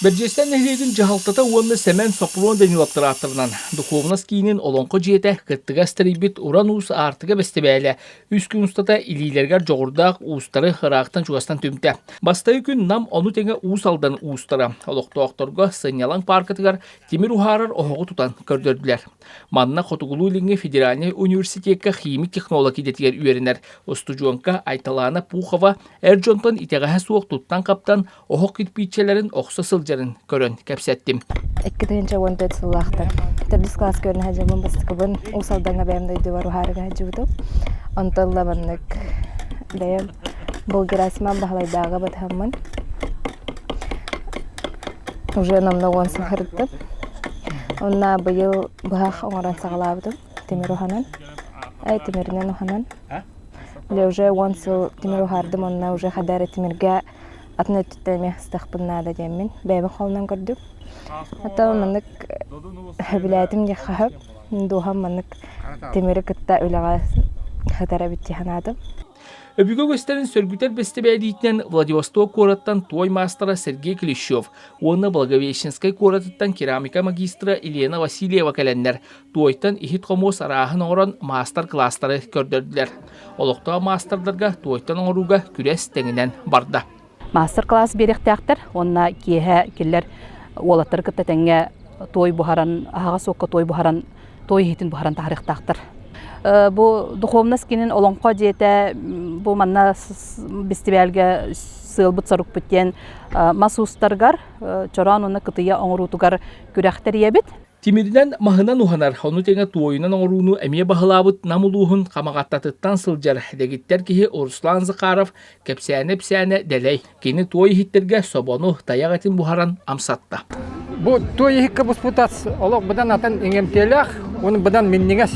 Бэрдьиэстээх нэһилиэгин дьаһалтата уонна Сэмэн Сопрун Даниловтар ааттарынан духуобунас киинин Олоҥхо дьиэтэ кыттыгас тэрийбит Уран уус аартыка бэстибээлэ үс күн устата илиилэригэр дьоҕурдаах уустары ыраахтан-чугастан түмтэ. Бастакы күн Нам ону тэҥэ Уус Алдан уустара олохтоохторго сынньалаҥ пааркатыгар тимир уһаарар оһоҕу тутан көрдөрдүлэр. Манна Хотугулуу-Илиҥҥи федеральнай университекка химик технолог идэтигэр үөрэнэр устудьуонка Айталаана Пухова Эр дьонтон итэҕэһэ суох туттан-хаптан оһох кирпииччэлэрин охсо сылдьарын көрөн кэпсэттим. Икки тыһыынча уон төрүт сыллаахтар. Төрдүс кылааска үөрэнэ сылдьабын бастакыбын Уус Алдаҥҥа бэйэм дойдубар уһаарыга сылдьыбытым. Онтон лабаннык бэйэм был Герасиман Баһылайдааҕы батыһаммын уже намного он сылхарыттым. Онна быйыл быһах оҥорон саҕалаабытым тимир уһанан. Ай тимиринэн уһанан. Дэ уже уон сыл тимир уһаардым онно уже хадары тимиргэ атын өттүттэн эмиэ ыстахпын наада диэммин бэйэбин холунан көрдүм. Оттон маннык билээтим диэххэ сөп. Дууһам маннык тимири кытта үлэҕэ сытар эбит дии санаатым. Өбүгэ үгэстэрин сөргүтэр бэстибээлиитинэн Владивосток куораттан туой маастара Сергей Клещев уонна Благовещенскай куоратыттан керамика магистра Елена Васильева кэлэннэр Туойтан иһит-хомуос арааһын оҥорон маастар-кылаастары көрдөрдүлэр. Олохтоох маастардарга туойтан оҥорууга күрэс тэҥинэн барда. Маастар-кылаас биэриэхтээхтэр уонна киэһэ киллэр уолаттары кытта тэҥҥэ туой буһаран, аһаҕас уокка туой буһаран, туой иһитин буһаран таһарыахтаахтар. Бу духовность кинин олоҥхо дьиэтэ бу манна бэстибээлгэ сыалбыт сорукпут диэн мас уустаргар чороон уонна кытыйа оҥоруутугар күрэхтэрийэбит. Тимиринэн маһынан уһанар, ону тэҥэ туойунан оҥорууну эмиэ баһылаабыт Нам улууһун Хамаҕаттатыттан сылдьар дэгиттэр киһи Руслан Захаров кэпсээнэ-ипсээнэ дэлэй. Кини туой иһиттэргэ собону, тайах этин буһаран амсатта. Бу туой иһиккэ буспутас олох быдан атын иҥэмтиэлээх, оның быдан минньигэс.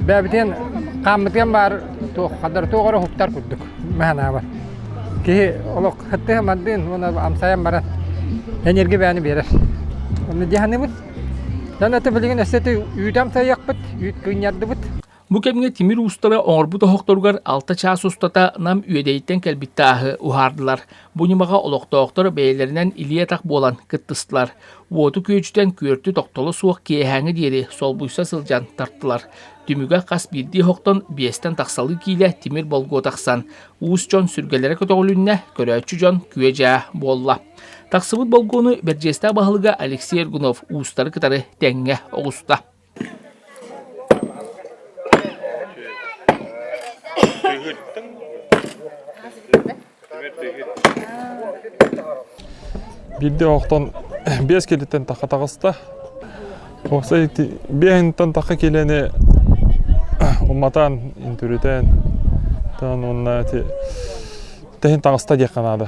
Бэбитин хааммытыан баар туох хадар туох эрэ уһуктар курдук. баһанаабат киһи олох һыттыһа-мардыын уонна амсайан баран энергибээни биэрэр онно дьаһаныбыт дьон аты билигин өссө үүтү амсайыахпыт үүт кыынньардыбыт Бу кэмҥэ тимир устава оҥорбут оһохторугар алта чаас устата Нам Үөдэйиттэн кэлбит тааһы уһаардылар. Бу ньымаҕа олохтоохтор бэйэлэринэн илии-атах буолан кыттыстылар. Уоту күөдьүтэн күөртү тохтоло суох киэһээҥи диэри солбуйса сылдьан тартылар. Түмүгэ хас биирдии оһохтон биэстэн тахсалыы киилэ тимир болгуо тахсан, уус дьон сүргэлэрэ көтөҕүлүннэ, көрөөччү дьон күө-дьаа буолла. Тахсыбыт болгуону Бэрдьиэстээх баһылыга Алексей Эргунов уустары кытары тэҥҥэ оҕуста. Биирдэ оҕотон биэс киилиттэн тахха таҕыста. Уопсай ити биэһинтэн тахха киилэни уматаан, интүрүтээн, таан уонна ити тэһин таҕыста диэххэ наада.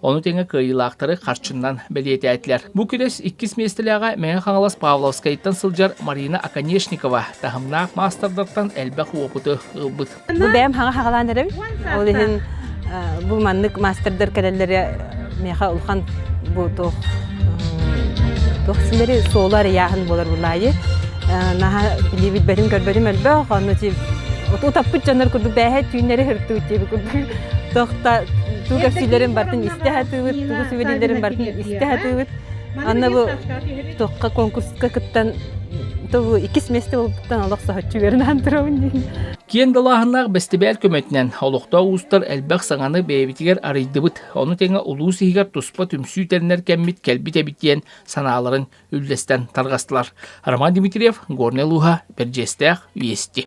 Ону тэҥэ кыайыылаахтары харчынан бэлиэтээтилэр. Бу күрэс иккис миэстэлээҕэ Мэҥэ Хаҥалас Павловскайтан сылдьар Марина Оконешникова таһымнаах маастардартан элбэх уопуту ылбыт. Бу бэйэм хаҥа хагалаан эрэбин. Ол иһин бу маннык маастардар кэлэллэрэ миэхэ улахан бу туох туох силэри суолу арыйааһын буолар булаайы. наһаа билии билбэтим көрбөтүм элбэх онно ти утаппыт дьоннор курдук бээһэ түүннэри хыртуу тиэби курдук тугасилерин бартын истэ хатыбыт тугу сүбелилерин бартын истэ хатыбыт анна бу токка конкурска кыттан тобу иккис месте болбуттан олох сахаччы берин антыровын Киэн далааһыннаах бэстибээл көмөтүнэн олохтоох уустар элбэх саҥаны бэйэбитигэр арыйдыбыт. Ону тэҥэ улуус иһигэр туспа түмсүү тэринэр кэммит кэлбит эбит диэн санааларын үллэстэн тарҕастылар. Роман Дмитриев, Горный Луга, Бэрдьиэстээх, Вести.